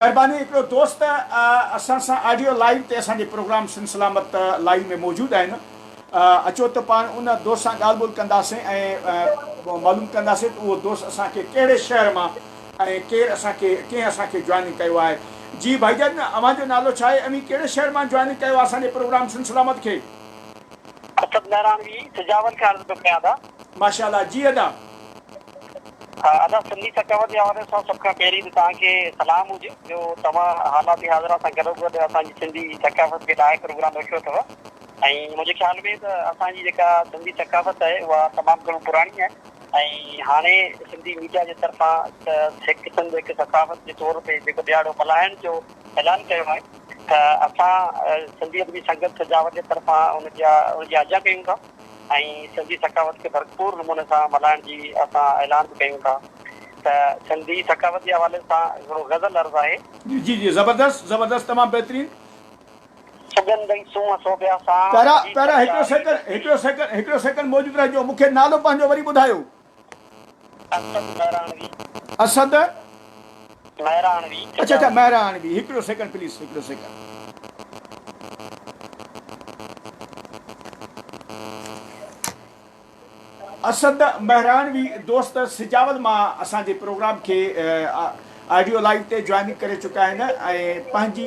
مھرباني ھڪڙو دوست اسان سان آڊيو لائيو تي اسان جي پروگرام سنڌ سلامت لائيو ۾ موجود آھن اچو ته پاڻ ان دوست سان ڳالھ ٻولھ ڪنداسين ۽ معلوم ڪنداسين ته اھو دوست اسان کي ڪھڙي شھر مان ۽ ڪير اسان کي ڪنھن اسان کي جوائننگ ڪيو آھي جي ڀائي جان اوھان جو نالو ڇا آھي اوھين ڪھڙي شھر مان جوائننگ ڪيو آھي اسان جي پروگرام سنڌ سلامت کي. اسد مھراڻوي سجاول کان عرض پيو ڪيان ادا. ماشاء الله جي ادا. ادب سنڌي ثقافت جي حوالي سان سڀ کان پهرين ته توهان کي سلام هجي جو توهان حالات حاضره سان گڏوگڏ اسان جي سنڌي ثقافت کي ڏاهي پروگرام رکيو اٿو ۽ منهنجي خيال ۾ ته اسان جي جيڪا سنڌي ثقافت آهي اها تمام گهڻو پراڻي آهي ۽ هاڻي سنڌي ميڊيا جي طرفان ته هڪ سنڌ هڪ ثقافت جي طور تي جيڪو ڏهاڙو ملهائڻ جو اعلان ڪيو آهي ته اسان سنڌي ادبي سنگت سجاول جي طرفان ان جا ان جي آجيان ڪيون ٿا. ۽ سنڌي ثقافت کي ڀرپور نموني سان ملهائڻ جي اسان اعلان به ڪيون ٿا ته سنڌي ثقافت جي حوالي سان هڪڙو غزل عرض آهي. جي جي جي زبردست زبردست تمام بهترين. سڳنڌ ۽ سونهن سوڀيا سان. پيارا پيارا هڪڙو سيڪنڊ هڪڙو سيڪنڊ هڪڙو سيڪنڊ موجود رهجو مونکي نالو پنهنجو وري ٻڌايو. اسد مهراڻوي. اسد. مهراڻوي. اڇا اڇا مهراڻوي هڪڙو سيڪنڊ پليز هڪڙو سيڪنڊ. اسد مهراڻوي دوست سجاول مان اسان جي پروگرام کي آڊيو لائيو تي جوائننگ ڪري چڪا آهن ۽ پنهنجي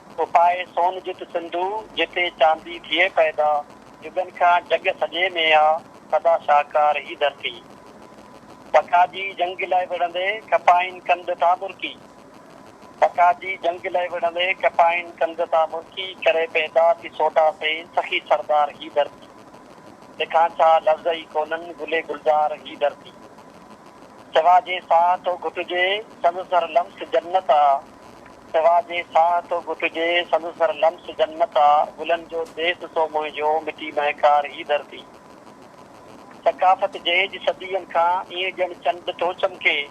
اپائي سون جت سنڌو، جتي چاندي ٿئي پيدا. جڳن کان جڳ سڄي ۾ آ، سدا شاهڪار هي ڌرتي. بکاجي جنگ لئه وڙهندي، کپائين ڪنڌ تان مرڪي. بکاجي جنگ لئه وڙهندي، کپائين ڪنڌ تان مرڪي. ڪري پيدا ٿي سوڍا سي، سخي سردار هي ڌرتي. تکان ڇا لفظ ئي ڪونهن، گلي گلزار هي ڌرتي. سوا جي ساهه ٿو گهٽجي، سندس هر لمس جنت آ. سوا جي ساهه ٿو گهٽجي، سندس هر لمس جنت آ، گلن جو ديس سو منهنجو، مٽي مهڪار هي ڌرتي. ثقافت جهيج صدين کان، ايئن ڄڻ چنڊ ٿو چمڪي.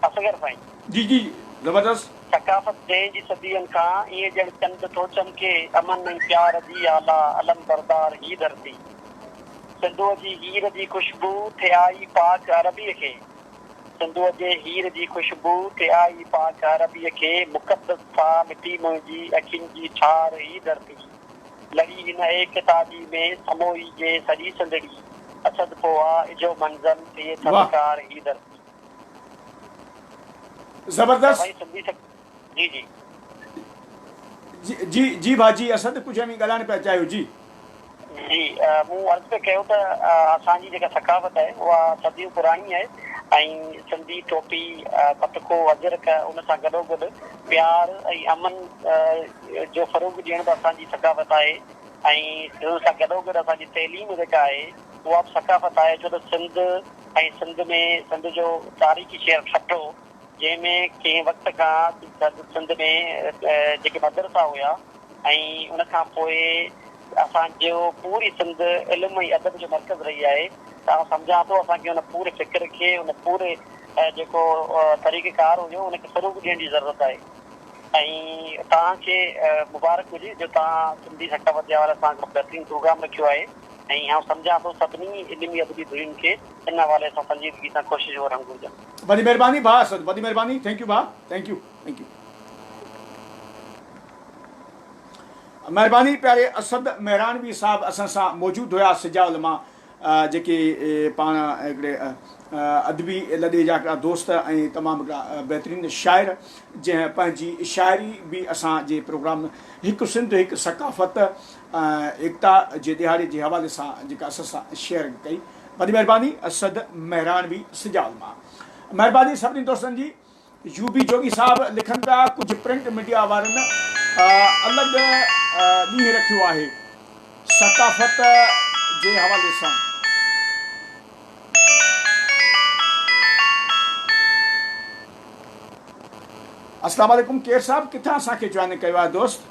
اصغر سائين. جي جي زبردست. ثقافت جهيج صدين کان، ايئن ڄڻ چنڊ ٿو چمڪي، امن ۽ پيار جي آلا، علم بردار هي ڌرتي. سنڌوء جي هير جي خوشبو، ٿئي آئي پاڪ عربيء کي. سنڌوء جي هير جي خوشبوء تي آئي پاڪ عربيء کي مقدس ٿا مٽي منهنجي اکين جي ٺار هي ڌرتي لڙي هن ايڪ تاڄي ۾ سموئي جي سڄي سنڌڙي اسد پوها اجهو منظم ٿئي ٿڌڪار هي ڌرتي. زبردست. جي جي. جي جي ڀا جي اسد ڪجهه اوهين ڳالهائڻ پيا چاهيو جي. جي مون عرض پيو ڪيو ته اسان جي جيڪا ثقافت آهي اها صديون پراڻي آهي ۽ سنڌي ٽوپي پتڪو اجرڪ ان سان گڏو گڏ پيار ۽ امن جو فروغ ڏيڻ به اسان جي ثقافت آهي ۽ ان سان گڏو گڏ اسان جي تعليم جيڪا آهي اها به ثقافت آهي ڇو ته سنڌ ۽ سنڌ ۾ سنڌ جو تاريخي شهر ٺٽو جنهن ۾ ڪنهن وقت کان سرحد سنڌ ۾ جيڪي مدرسا هيا ۽ ان کان پوء اسان جو پوري سنڌ علم ۽ ادب جو مرڪز رهي آهي ته آئون سمجهان ٿو اسان کي ان پوري فڪر کي ان پوري جيڪو طريقه ڪار هيو ان کي فروغ ڏيڻ جي ضرورت آهي ۽ توهان کي مبارڪ هجي جو توهان سنڌي سٽا وديا وارا سان هڪڙو بهترين پروگرام رکيو آهي ۽ آئون سمجهان ٿو سڀني علمي ادبي ڌرين کي ان حوالي سان سنجيدگي سان ڪوششون ڪرڻ گهرجن. وڏي مھرباني ڀاء اسد. وڏي مھرباني ٿينڪ يو ڀاء ٿينڪ يو ٿينڪ يو. مھرباني پياري اسد مهراڻوي صاحب اسان سان موجود هيا سجا علماء جيڪي پاڻ هڪڙي ادبي لڏي جا هڪڙا دوست ۽ تمام هڪڙا بهترين شاعر جنهن پنهنجي شاعري به اسان جي پروگرام هڪ سنڌ هڪ ثقافت ايڪتا جي ڏهاڙي جي حوالي سان جيڪا اسان سان شيئر ڪئي وڏي مهرباني اسد مهراڻوي سجاول مان مهرباني سڀني دوستن جي يو بي جوڳي صاحب لکن پيا ڪجهه پرنٽ ميڊيا وارن الڳ ڏينهن رکيو آهي ثقافت جي حوالي سان السلام عليڪم ڪير صاحب ڪٿان اسان کي جوائن ڪيو آهي دوست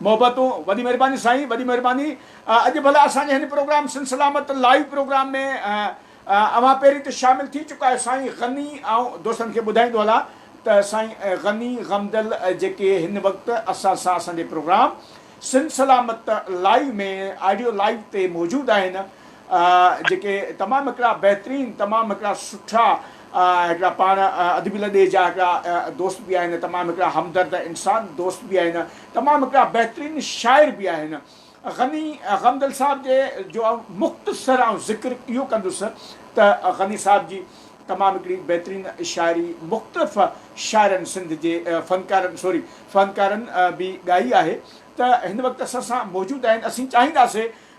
محبتون وڏي مھرباني سائين وڏي مھرباني اڄ ڀلا اسان جي ھن programme Sindh Salamat live programme ۾ اوھان پهرين ته شامل ٿي چڪا آھيو سائين غني آئون دوستن کي ٻڌائيندو ھلان ته سائين غني غمدل جيڪي ھن وقت اسان سان اسان جي programme Sindh Salamat live ۾ audio live تي موجود آھن جيڪي تمام هڪڙا بهترين تمام هڪڙا سٺا هڪڙا پاڻ ادبي لڏي جا هڪڙا دوست به آهن تمام هڪڙا همدرد انسان دوست به آهن تمام هڪڙا بهترين شاعر به آهن غني غمدل صاحب جي جو آئون مختصر آئون ذڪر اهو ڪندس ته غني صاحب جي تمام هڪڙي بهترين شاعري مختلف شاعرن سنڌ جي فنڪارن سوري فنڪارن به ڳائي آهي ته هن وقت اسان سان موجود آهن اسين چاهينداسين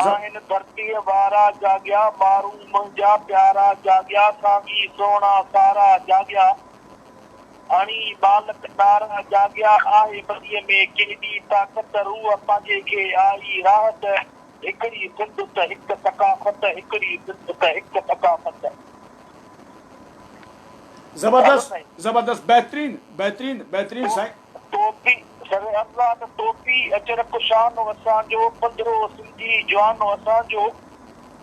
آهن ڌرتيء وارا جاڳيا، ٻارو منهنجا پيارا جاڳيا، سانگي سهڻا سارا جاڳيا، هڻي ٻالڪ ڏارا جاڳيا، آهي ٻنيء ۾ ڪيڏي طاقت، روح پنهنجي کي آئي راحت، هڪڙي سنڌ ته هڪ ثقافت، هڪڙي سنڌ ته هڪ ثقافت. زبردست زبردست بهترين بهترين بهترين سائين. ٽوپي سر الله ته ٽوپي اچر ڪشان و اسان جو پڌرو سنڌي جوان و اسان جو.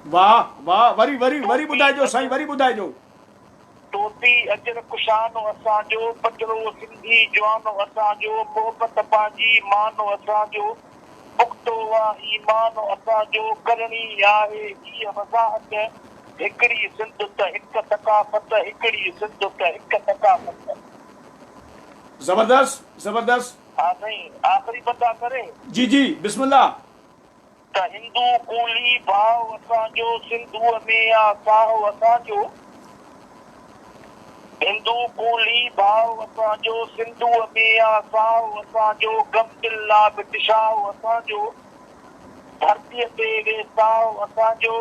واھ واھ وري وري وري ٻڌائجو سائين وري ٻڌائجو. ٽوپي اچر ڪشان و اسان جو پڌرو سنڌي جوان و اسان جو محبت پنهنجي مان و اسان جو پختو و ايمان و اسان جو ڪرڻي آهي هيء وضاحت هڪڙي سنڌ ته هڪ ثقافت هڪڙي سنڌ ته هڪ ثقافت. زبردست زبردست. ها سائين آخري بندا ڪري. جي جي بسم الله. ته هندو ڪولهي ڀاء اسان جو سنڌوء ۾ آ ساهه اسان جو هندو ڪولهي ڀاء اسان جو سنڌوء ۾ آ ساهه اسان جو غم دل لا ڀٽ شاهه اسان جو ڌرتيء تي ويساهه اسان جو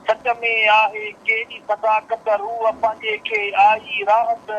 سچ ۾ آهي ڪهڙي صداقت روح پنهنجي کي آئي راهه ته